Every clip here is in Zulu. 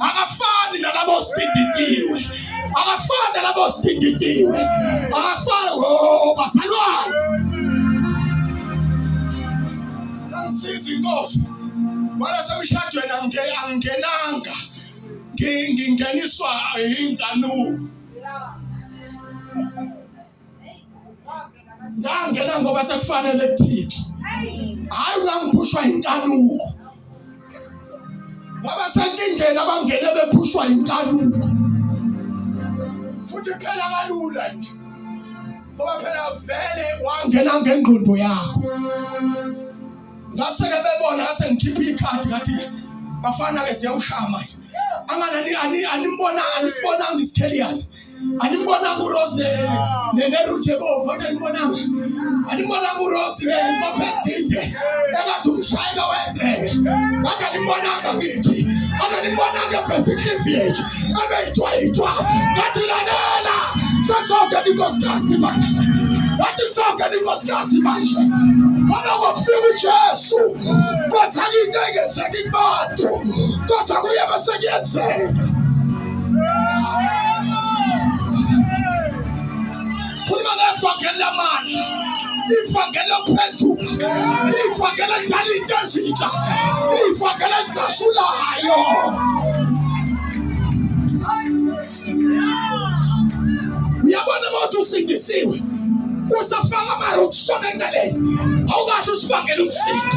akafani nalabo sidinditiwe akafani nalabo sidinditiwe akafani oh, bazalwane angisiza inkosi wala semshadweni angingenanga ngingeniswa inkanuko ngangena ngoba sekufanele kuthike hayi wangiphushwa inkanuko ngoba senkingeni abangene bephushwa inkanuko futhi phela kalula nje ngoba phela vele wangena ngengqondo yakho ngase-ke bebona ngase ngikhiphe ikhadi ngathi-ke bafana-ke ziyawushaya manje anganani anibona anisibonanga isikheli yani Animbonanga uRose ne ne ne Ruche bovu athi animbonanga. Animbonanga uRose ne nkophe ezinde. Engathi umshayela wedeke. Ngathi animbonanga ngithi. Anganibonanga efesiklifu yethu. Abeyithwa yithwa. Ngathi lalela. Sekuzoke inkosikazi manje. Ngathi kuzoke inkosikazi manje. Ngoba kwafika uJesu. Kwenzeka into engenzeki kubantu. Kodwa kuye bese kuyenzeka. ifakele phenduka ifakele dala into ezintsha ifakele gasulayo uyabona ukuthi usindisiwe usafaka amaro kusona engaleni awukasho usibangela umsindo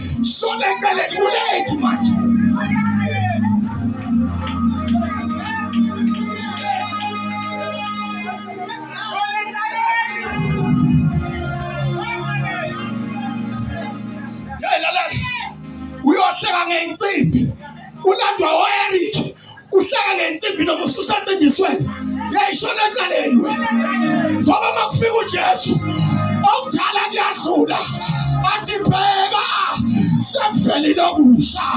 shona eceleni ulethu manje uyohleka ngeyinsimbi ulandwa o-eric uhlala ngensimbi noma ususatsindiswe yayishona eceleni wena ngoba uma kufika ujesu okudala kuyadlula athi bheka sekuvelile okusha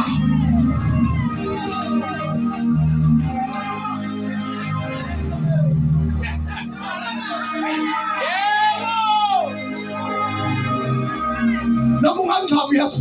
noma ungangixhabi yesu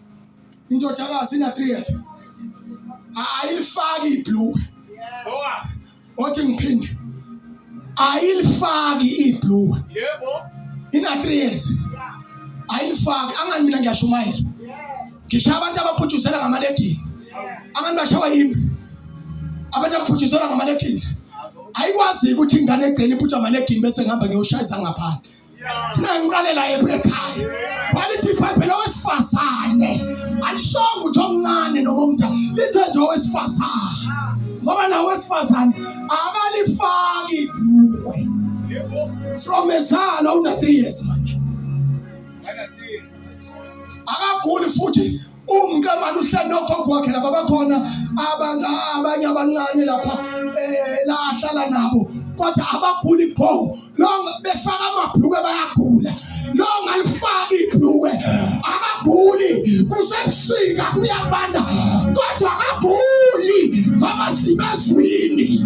indodakazi ina 3 years ayilifaki ibhlukwe othi ngiphinde ayilifaki ibhlukwe yebo ina 3 years ayilifaki angani mina ngiyashumayela ngisha abantu abaphutshuzela ngamaledini angani bashawa yimi abantu abaphutshuzela ngamaledini ayikwazi ukuthi ingane egcina iphutha amaledini bese ngihamba ngiyoshayisa ngaphandle Ngiqalela yephi ekhaya? Kwalithi iBhayibheli lowesifazane alishonga ukuthi omncane noma omdala lithe nje owesifazane ngoba nawo wesifazane akalifaki ibhlukwe from ezalo una 3 years manje akaguli futhi umkamani uhleli nogogo wakhe laba bakhona abanye abancane lapha um la ahlala nabo kodwa abaguli go lo befaka amabhulukwe bayagula lo ngalifaki ibhulukwe akaguli kusebusika kuyabanda kodwa akaguli ngoba simezwini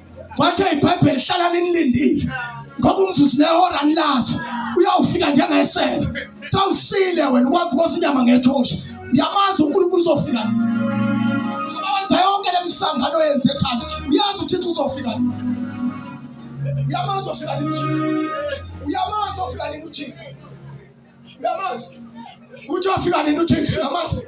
wathe ibhayibheli hlala ninilindile ngoba umzuzu nehora nilazi uyawufika njengesela sawusile wena ukwazi ukosa inyama ngethosha uyamazi unkulunkulu uzofika ngoba wenza yonke le misangano yenze ekhanda uyazi uthixo uzofika uyamazi ofika nini uyamazi ofika nini uthixo uyamazi uthi wafika nini uthixo uyamazi